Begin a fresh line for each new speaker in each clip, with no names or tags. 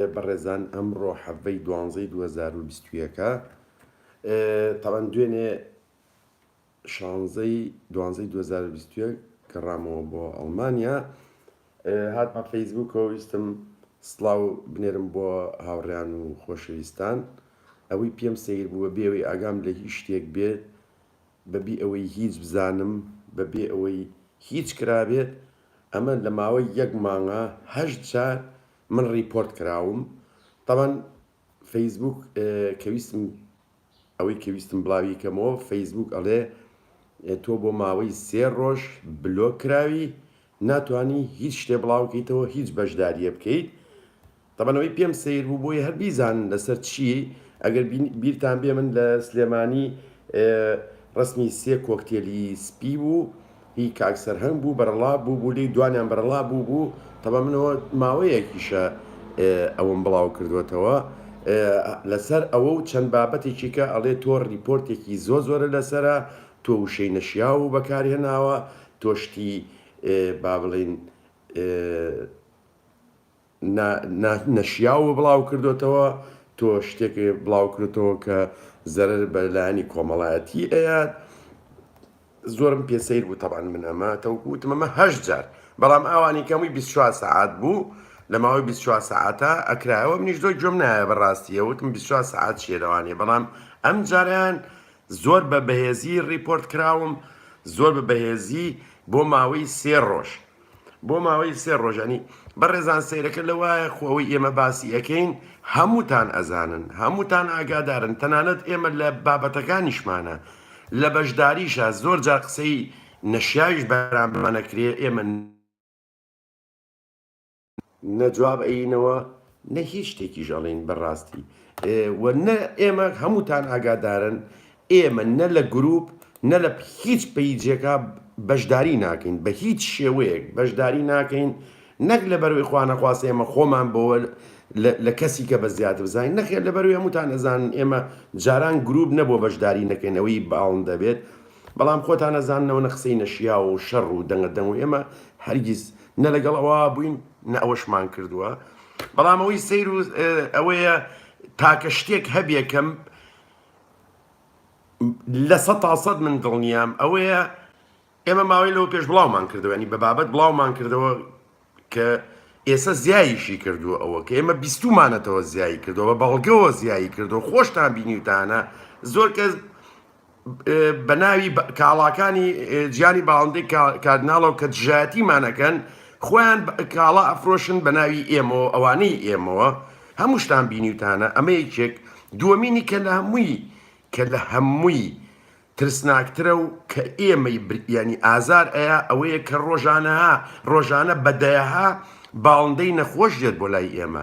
ئێ بەڕێزان ئەمڕۆ حەڤەی دوانزەی دوو هەزار و بیست و یەک ە تاوان دوێنێ شانزەی دوانزەی دوو هەزار و بیست و یەک گەڕامەوە بۆ ئەڵمانیا هاتمە فەیسبووکەوە ویستم سلااو بنێرم بۆ هاوڕیان و خۆشەویستان ئەوەی پێم سیر بووە بێەوەی ئاگام لە هیچ شتێک بێت بەبی ئەوەی هیچ بزانم بەبێ ئەوەی هیچ کرابێت ئەمە لە ماوەی یەک مانگە هەشت جار من ڕیپۆرت کراوم تەبەن فەیسبووک کە ویستم ئەوەی کە ویستم بڵاوی کەمەوە فەیسبووک ئەڵێ تۆ بۆ ماوەی سێ ڕۆژ بلۆک کراوی ناتانی هیچ شتێ بڵاوکەیتەوە هیچ بەشداریە بکەیت تەبەنەوەی پێم سیر بوو بۆی هەر بیزان لەسەر چی ئەگەر بیرتان بێ من لە سلێمانی ڕسمی سێ کۆکتێلی سپی بوو هی کاک سەرهەنگ بوو بەرەڵا بوو بوو لێی دوانیان بەرەڵا بوو بوو تەبا منەوە ماوەیەکیشە ئەوم بڵاو کردوەتەوە لەسەر ئەوە و چەند بابەتێکی کە ئەڵێ تۆ ریپۆرتێکی زۆ زۆرە لەسرە تۆ وشەی نەشیا و بەکارهێناوە تۆشتی با بڵین نا نەشیاو بڵاو کردۆتەوە تۆ شتێک بڵاو کردۆتەوە کە زەرەر بە لایەنی کۆمەڵایەتی ئەیات زۆرم پێ سیر بوو تەبان من ئەمە تەوکو وتم ئەمە هەشت جار بەڵام ئەوانی کەمووی 24 سعات بوو لە ماوەی 24 سعاتە ئەکرایەوە منیش زۆر گوێم نایە بە ڕاستیە وتم 24 سعات چیە لەوانێ بەڵام ئەم جاریان زۆر بە بەهێزی ڕیپۆرت کراوم زۆر بە بەهێزی بۆ ماوەی سێ ڕۆژ بۆ ماوەی سێ ڕۆژەنی بەڕێزان سەیرەکە لە وایە خۆ ئەوەی ئێمە باسی ئەەکەین هەمووتان ئەزانن هەمووتان ئاگادارن تەنانەت ئێمە لە بابەتەکانیشمانە لە بەشداریشە زۆر جا قسەی نەشیاویش بەرامانەکرێ ئێمە نە جواب ئەیینەوە نە هیچ شتێکیش ئەڵێن بە ڕاستی و نە ئێمە هەمووتان ئاگادارن ئێمە نە لە گروپ نە لە هیچ پەیجێکا بەشداری ناکەین بە هیچ شێوەیەک بەشداری ناکەین نەک لە بەروی خوانەخواست ئێمە خۆمان بۆوە لە کەسی کە بە زیاتر بزانین نەخێ لە بەروی هەمووتان ئەزانن ئێمە جاران گروپ نەبووە بەشداری نەکەین ئەوەی باڵن دەبێت بەڵام خۆتان ئەزانەوە نە قسەی نەشیاوە و شەڕ و دەنگە دەنگ و ئێمە هەرگیز نە لەگەڵ ئەوە بووین نە ئەوەشمان کردووە بەڵام ئەوەی سیر و ئەوەیە تاکە شتێک هەبیەکەم لە سە تاسەد من دڵنیام ئەوەیە ئێمە ماوەی لەوە پێش بڵاومان کردوێنی بە بابەت بڵاومان کردەوە کە ئێستا زیایشی کردو ئەوە کە ئێمە بیستمانەتەوە زیایی کردەوە بەڵگەوە زیایی کردو خۆشتان بینیوتانە زۆر کەس بە ناوی کاڵاکانی جیانی باڵندەی کاردناڵەوە کە دژایەتیمانەکەن خۆیان کاڵا ئەفرۆشن بە ناوی ئێمەوە ئەوانەی ئێمەوە هەمووشتان بینیوتانە ئەمە یەکێک دووەمینی کە لە هەمووی کە لە هەمووی ترسناکترە و کە ئێمەی ینی ئازار ئەیە ئەوەیە کە ڕۆژانەها ڕۆژانە بەدەیەها باڵندەی نەخۆش دێت بۆ لای ئێمە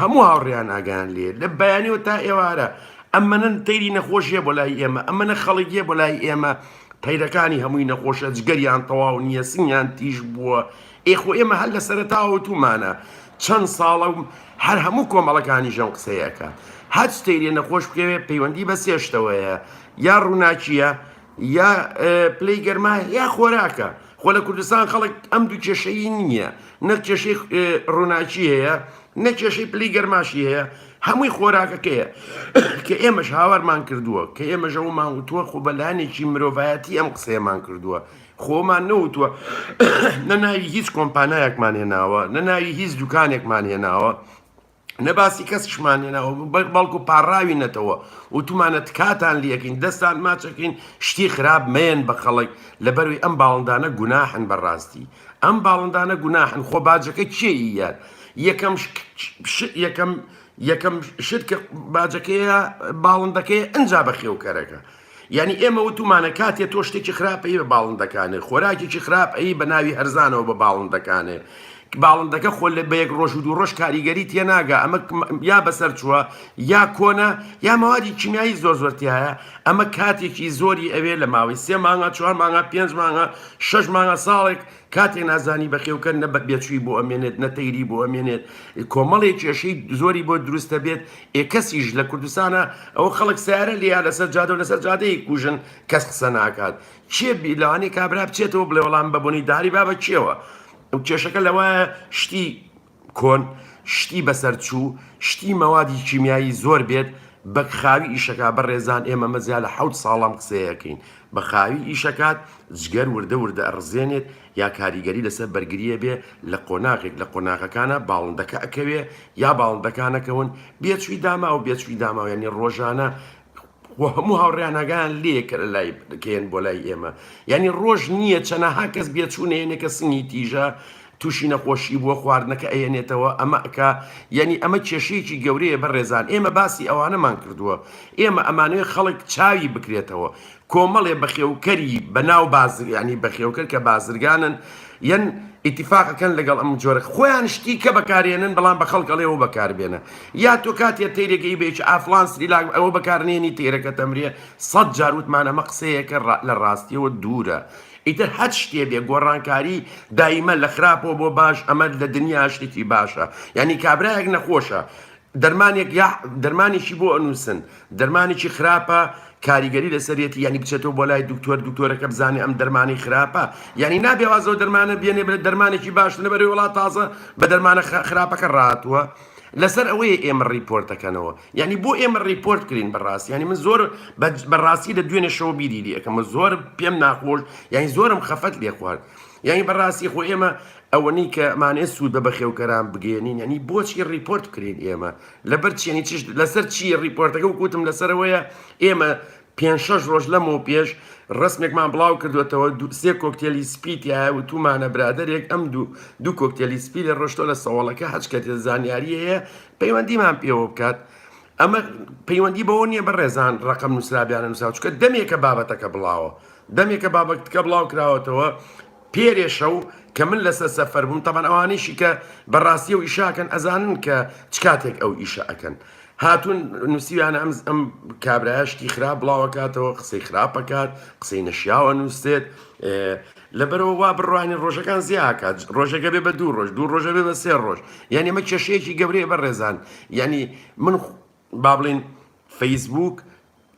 هەموو هاوڕێیان ئاگایان لێ لە بەیانیەوە تا ئێوارە ئەمەە تەیری نەخۆشیە بۆ لای ئێمە ئەمەە خەڵکیە بۆ لای ئێمە تەیرەکانی هەمووی نەخۆشە جگەریان تەواو نییە سنگیان تیژ بووە ئێخۆ ئێمە هەر لە سەرتاوتومانە چەند ساڵە و هەر هەموو کۆمەڵەکانی ژەم قسەیەکە هەچ تەیرێ نەخۆش بکەوێت پەیوەندی بە سێشتەوەیە یا ڕووناکیە یا پلەی گەرما یا خۆراکە خۆ لە کوردستان خەڵک ئەم دوو کێشەیی نییە نە کێشەی ڕووناکی هەیە نە کێشەی پلی گەرماشی هەیە هەمووی خۆراکەکەیە کە ئێمەش هاوارمان کردووە کە ئێمە ژەومان وتووە خۆ بەلانێکی مرۆڤایەتی ئەم قسەیەمان کردووە خۆمان نەوتووە نە ناوی هیچ کۆمپانایەکمان هێناوە نە ناوی هیچ دوکانێکمان هێناوە نە باسی کەسیشمان لێ ناوە بەڵکو پاڕاوی نەتەوە وتومانە تکاتان لەکەین دەستان ماچەکەین شتی خراپ مەیەن بە خەڵک لە بەروی ئەم باڵندانە گوناحن بەڕاستی ئەم باڵندانە گوناحن خۆ باجەکە کێ یار یەکەم یەکەم یەکەم شت کە باجەکەیە باڵندەکەی ئەجا بەخێوکەرەکە یانی ئێمە وتومانە کاتێ تۆ شتێکی خراپ ئەی بە باڵندەکانێ خۆراکێکی خراپ ئەی بە ناوی هەرزانەوە بە باڵندەکانێ باڵندەکە خۆ لە بە یەک ڕۆژ و دوو ڕۆژ کاریگەری تێناگە ئەمە یا بەسەر چووە یا کۆنە یا مەوادی کیمیایی زۆر زۆرتیایە ئەمە کاتێکی زۆری ئەوێ لە ماوەی سێ مانگا چوار مانگا پێنج مانگا شەش مانگا ساڵێک کاتێ نازانی بەخێوکە نە بێچوی بۆ ئەمێنێت نە تەیری بۆ ئەمێنێت کۆمەڵێک کێشەی زۆری بۆ دروستە بێت ئێ کەسیش لە کوردستانە ئەو خەڵک سیارە لیا لەسەر جادە و لەسەر جادەی کوژن کەس قسە ناکات چێ بیلانی کابرا بچێتەوە بڵێ وەڵام بەبوونی داری بابە چێوە ئەو کێشەکە لەوە شتی کۆن شتی بەسەر چوو شتی مەوادی کیمیایی زۆر بێت بەک خاوی ئیشەکە بە ڕێزان ئێمە مەزیا لە حەوت ساڵام قسەیەکەین بە خاوی ئیشەکات جگەر وردە وردە ئەڕزێنێت یا کاریگەری لەسەر بەرگریە بێ لە قۆناغێک لە قۆناغەکانە باڵندەکە ئەکەوێ یا باڵندەکانەکەون بێچوی داماو بێچوی داماوێنی ڕۆژانە خۆ هەموو هاوڕێیان ئاگایان لێیە کە لەلای دەکەیەن بۆ لای ئێمە یعنی ڕۆژ نییە چەنەها کەس بێچوونەیەنێ کە سنگی تیژە تووشی نەخۆشی بووە خواردنەکە ئەیەنێتەوە ئەمە ئەکا یعنی ئەمە کێشەیەکی گەورەیە بە ڕێزان ئێمە باسی ئەوانەمان کردووە ئێمە ئەمانەوێ خەڵک چاوی بکرێتەوە کۆمەڵێ بەخێوکەری بەناو بازر یعنی بەخێوکەر کە بازرگانن یەن ئیتیفاقەکەن لەگەڵ ئەم جۆرە خۆیان شتی کە بەکارێنن بەڵام بە خەڵکەڵێەوە بەکاربێنە یا تۆ کاتێ تیرێکی بێچ ئافلانس ریلاگ ئەوە بەکارنێنی تێرەکە تەمرێ سەد جاروتمانەمە قسەیەکە لە ڕاستیەوە دوورە ئیتر هەت شتێ بێ گۆڕانکاری دایمە لە خراپەوە بۆ باش ئەمە لە دنیا شتێکی باشە یعنی کابراەک نەخۆشە دەرمانێک یاح دەرمانێکی بۆ ئەنووسن دەرمانێکی خراپە کاریگەری لەسەرێتی یعنی بچێتەوە بۆ لای دکتۆر دکتۆرەکە بزانێ ئەم دەرمانی خراپە یعنی نابێ وازەوە دەرمانە بێنێ بێت دەرمانێکی باش لەبەرەوەی وڵات تازە بە دەرمانە خ- خراپەکە ڕاتوە لەسەر ئەوەیە ئێمە ڕیپۆرتەکەنەوە یعنی بۆ ئێمە ڕیپۆرت کرین بەڕاستی یعنی من زۆر بە- بەڕاستی لە دوێنێ شەوە بیری لێ ئەکەمە زۆر پێم ناخۆش یعنی زۆرم خەفەت لێ خوارد یعنی بەڕاستی خۆ ئێمە ئەوەنەی کە مانێ سوود بە بەخێوکەران بگەێنین ینی بۆچی ڕیپۆرت بکرین ئێمە لەبەر چێنی چشت لەسەر چی ڕیپۆرتەکە و کوتم لەسەرەوەیە ئێمە پێ شەش ڕۆژ لەم و پێش ڕسمێکمان بڵاو کردوێتەوە سێ کۆکتێلی سپیتیە و تومانە برادێک ئەم دوو دوو کۆکتێلی سپی لە ڕۆشتۆ لە سەوڵەکە هەچکە تێ زانیاریەیە پەیوەندیمان پێوە بکات ئەمە پەیوەندی بەوە نییە بە ڕێزان ڕقم نووسرابیانە نووساوچکە دەمێکە بابەتەکە بڵاوە دەمێکە بابەتکە بڵاو کراوەتەوە پێرێ شەو کە من لەسەر سەفەر بووم تەبەن ئەوانیشی کە بە ڕاستی ئەو ئیشە ئەکەن ئەزانن کە چ کاتێک ئەو ئیشە ئەکەن هاتون نووسیویانە ئەم ئەم کابرایە شتی خراپ بڵاوەکاتەوە قسەی خراپەکات قسەی نەشیاوە نووسێت لەبەرەوە وا بڕوانی ڕۆژەکان زیاکات ڕۆژەکە بێ بە دوو ڕۆژ دوو ڕۆژە بێ بە سێ ڕۆژ یعنی مە کێشەیەکی گەورەیە بە ڕێزان یعنی من با بڵین فەیسبووک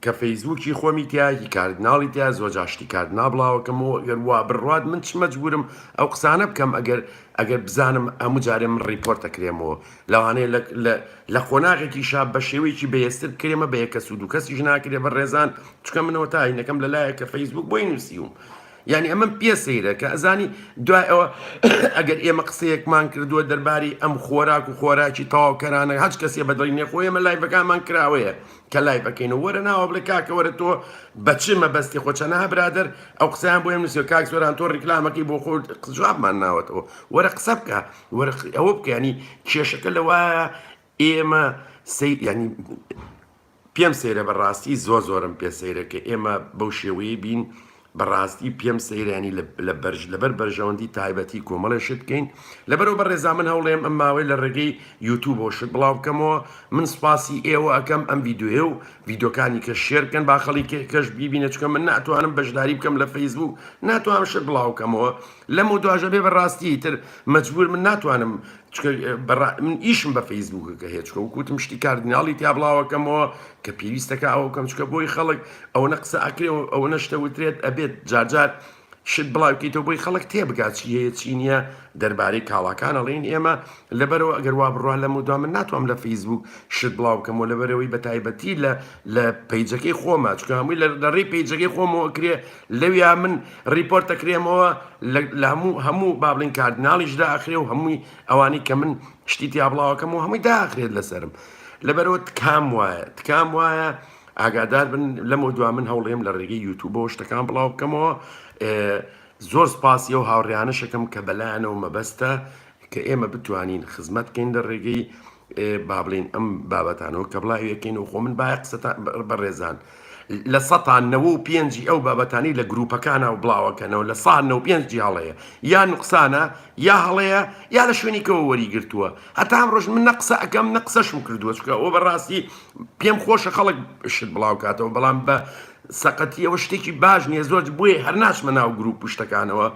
کە فەیسبووکی خۆمی تیایە هی کاردناڵی تیایە زۆر جار شتی کاردناڵ بڵاو ئەکەم و ئەگەر وا بڕوات من چ مەجبوورم ئەو قسانە بکەم ئەگەر ئەگەر بزانم هەموو جارێ من ڕیپۆرت ئەکرێمەوە لەوانەیە لە لە لە قۆناغێکیشا بە شێوەیەکی بەهێزتر بکرێمە بە یەک کەس و دوو کەسیش ناکرێ بەڕێزان چونکە من ئەوە تاینەکەم لەلایەک کە فەیسبووک بۆی نووسیوم یانی ئەمەم پێ سەیرە کە ئەزانی دوای ئەوە ئەگەر ئێمە قسەیەکمان کردووە دەرباری ئەم خۆراک و خۆراکی تەواوکەرانە هەچ کەسێ بەدڵی نێخۆ ئێمە لایڤەکانمان کراوەیە کە لای بەکەینەوە وەرە ناوە بڵێ کاکەوەرە تۆ بەچ مەبەستی خۆچەنا برادر ئەو قسەیان بۆ نووسێ کاک زۆران تۆ ڕیکلامەکەی بۆ خۆ قزوابمان ناوەتەوە وەرە قسە بکە وەرە ئەوە بکەنی کێشەکە لەوایە ئێمە سەی ینی پێم سەیرە بە ڕاستی زۆر زۆرم پێ سەیرە کە ئێمە بەو شێوەیە بین بەڕاستی پێم سەیرانی لە بەرژ لەبەر بەرژەوەندی تایبەتی کۆمەڵێ شت بکەین لەبەرەوە بە ڕێزا من هەوڵێم ئەم ماوەی لە ڕێگەی یوتوب بۆ شت بڵاو بکەمەوە من سوپاسی ئێوە ئەەکەم ئەم یددیوێ و یددیوکانی کە شێرکەن باخەڵی کەش بیبینە چکە من ناتوانم بەشداری بکەم لە فەیسبوو ناتوانم شت بڵاوکەمەوە لەم و دواژە بێ بەڕاستی تر مجبور من ناتوانم من ئیشم بە فەیسبووکەکە هەیە چکە وکوتم شتی کاردیناڵی تیا بڵاوەکەمەوە کە پێویستەکە ئەو کەم چکە بۆی خەڵک ئەوەنە قسە ئەکرێ و ئەوە نەشتە وترێت ئەبێت جارجار شت بڵاوکەیتەوە بۆی خەڵک تێبگات چی هەیە چی نییە دەربارەی کاڵاکان ئەڵێن ئێمە لەبەرەوە ئەگەر وا بڕوا لە مدوام من ناتوام لە فەیسبوک شت بڵاوکەمەوە لەبەرەوەی بە تایبەتی لە لە پیجەکەی خۆمە چکە هەمووی لە دەڕی پیجەکەی خۆمەوە کرێ لەویا من ڕیپۆرت دەکرێمەوە لە هەموو هەموو بابلین کاردناڵیش داخرێ و هەمووی ئەوانی کە من شتی تیابڵاوەکەم و هەمووی داخرێت لەسرم لەبەرەوە تکام وایە تکام وایە ئاگادار بن لەمە دوا من هەوڵێم لە ڕێگەی یوتوبەوە شتەکان بڵاو بکەمەوە زۆر سپاسی و هاوڕیانەشەکەم کە بەلایەنەوە مەبەستە کە ئێمە بتوانین خزمەت بکەین لە ڕێگەی با بڵێین ئەم بابەتانەوە کە بڵاویەکەین و خۆ من باە قسەتا بەڕێزان لە سەتان نەوە و پێنجی ئەو بابەتانی لە گروپەکانە و بڵاوەکەنەوە لە سا نە پێنجی هەڵەیە یا نقصانە یا هەڵەیە یا لە شوێنیکەوە وەریگرتووە هەتا ئەم ڕۆژ من نە قسە ئەەکەم نە قسەشم کردووە چکە ئەو بەڕاستی پێم خۆشە خەڵک شت بڵاو کاتەوە بەڵام بە سەقەتی ئەوە شتێکی باش نیە زۆر بۆیە هەر ناچمە ناو گروپ پشتەکانەوە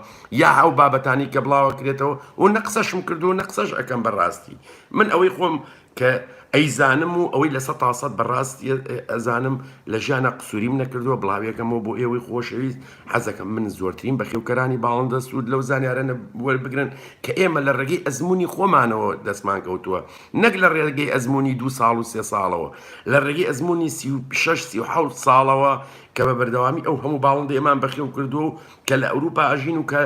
یا ئەو بابەتانی کە بڵاوە کرێتەوە و نە قسەشم کردو نە قسەش ئەەکەم بەڕاستی. من ئەوەی خۆم کە ئەیزانم و ئەوەی لە سە تاسەد بەڕاستی ئەزانم لە ژیانە قسووریم نەکردووە بڵاوێکەمەوە بۆ ئێوەی خۆشەویست حەزەکەم من زۆرترین بەخێوکەرانی باڵندە سوود لەو زانیارانە وەربگرن کە ئێمە لە ڕێگەی ئەزمموی خۆمانەوە دەستمان کەوتووە نەک لە ڕێگەی ئەزمموی دو ساڵ و سێ ساڵەوە لە ڕێگەی ئەزمموی سی و شش سی و حوت ساڵەوە کە بە بەردەوامی ئەو هەموو باڵندە ئێمان بەخێو کردو کە لە ئەوروپا ئەژین و کە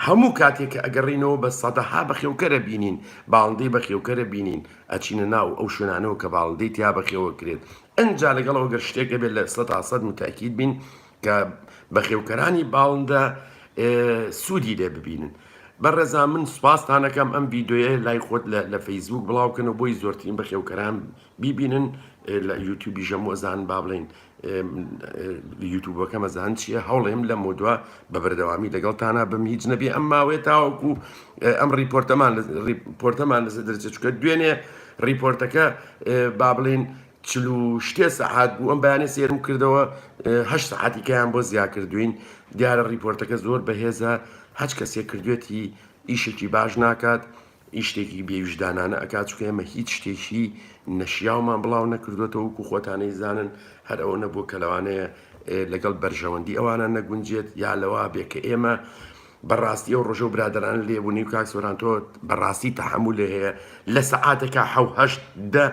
هەموو کاتێک کە ئەگەڕێینەوە بە سەدەها بەخێوکەرە بینین، باڵندەی بەخێوکەرە بینین، ئەچینە ناو ئەو شوێنانەوە کە باڵندەی تیا بەخێوکرێت، ئنجا لەگەڵ ئەوە گەر شتێک هەبێت لە سەدا سەد موتەئەکید بین کە بەخێوکەرانی باڵندە سوودی لێ ببینن. بەڕێزان من سوپاستان ئەکەم ئەم ڤیدیۆیە لای خۆت لە فەیسبووک بڵاوکەنەوە بۆی زۆرترین بەخێوکەران بیبینن لە یوتیوبیشەم وەزان با بڵێین یوتوبەکەم ئەزان چییە هەوڵێم لە مۆدووە بە بەردەوامی لەگەڵ تانا بم هیچ نەبێ ئەم ماوەیە تاوەکو ئەم ریپۆرتەمان ریپۆرتەمان لەسەر دەرچە چکە دوێنێ ریپۆرتەکە با بڵین چلو شتێ سەعات بوو ئەم بەیانە سێرم کردەوە هە سەعاتیکەیان بۆ زیا کردوین دیارە ریپۆرتەکە زۆر بەهێزە هەچ کەسێک کردوێتی ئیشێکی باش ناکات ی شتێکی بێ ویژدانانە ئەکات چونکە ئێمە هیچ شتێکی نەشیاومان بڵاو نەکردوێتەوە وکو خۆتانەی زانن هەر ئەوە نەبوو کە لەوانەیە لەگەڵ بەرژەوەندی ئەوانە نەگونجێت یا لەوا بێ کە ئێمە بەڕاستی ئەو ڕۆژە و برادران لێبوونی و کاک سۆرانتۆ بەڕاستی تەحمل لێ هەیە لە سەعاتەکە حوهشت دە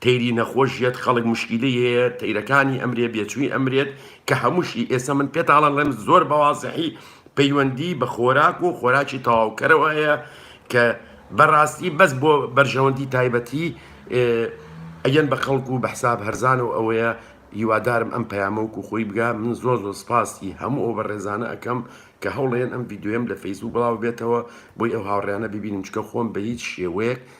تەیری نەخۆش یەت خەڵک مشکیلەی هەیە تەیرەکانی ئەمرێ بێچوی ئەمرێت کە هەموشی ئێسە من پێتاڵەڵێم زۆر بەوازحی پەیوەندی بە خۆراک و خۆراکی تەواو کەرەوە هەیە کە بەراستی بەس بۆ بەرژەوەندی تایبەتی ئەگەن بە خەڵک و بەحساب هەرزان و ئەوەیە هیوادارم ئەم پەیامەوەک و خۆی بگا من زۆر زۆر سپاسی هەموو ئەو بە ڕێزانە ئەەکەم کە هەوڵێن ئەم یددیوێم لە فەیسبوو بڵاو بێتەوە بۆی ئەو هاوڕیانە ببینم چکە خۆم بە هیچ شێوەیەک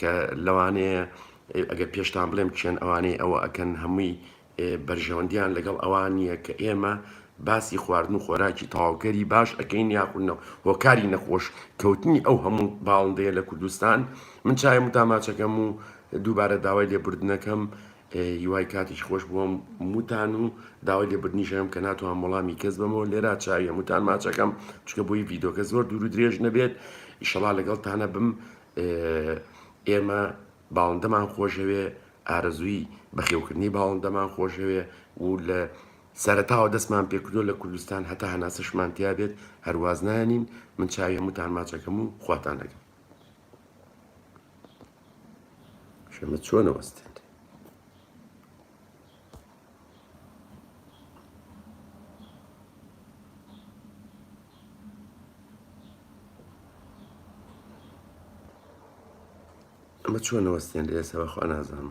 کە لەوانەیە ئەگەر پێشتان بڵێم کێن ئەوانەی ئەوە ئەکەن هەمووی بەرژەوەندیان لەگەڵ ئەوان نییە کە ئێمە باسی خواردن و خۆراکی تەواوکەری باش ئەەکەین یاخونەوە هۆکاری نەخۆش کەوتنی ئەو هەموو باڵندەیە لە کوردستان من چایم و داماچەکەم و دووبارە داوای لێبوردنەکەم هیوای کاتیش خۆش بووم موتان و داوای لێبرنیژەم کە ناتوان وەڵامی کەس بەمەوە لێرا چاویە موتان ماچەکەم چکە بۆی ڤیدۆکە زۆر دوور و درێژ نەبێت ئیشەڵا لەگەڵ تانە بم ئێمە باڵندەمان خۆشەوێ، ئارەزووی بەخێوکردنی باڵندەمان خۆشەوێ و لە سەرەتاوە دەستمان پێکردووە لە کوردستان هەتا هەناسەشمان تیا بێت هەر واز نانین، من چاوی هەمووتان ماچ ئەکەم و خواتان ئەگرم. شەمە چۆنە وەستێت؟ ئەمە چۆن وەستێن ئێسە بەخوا نازانم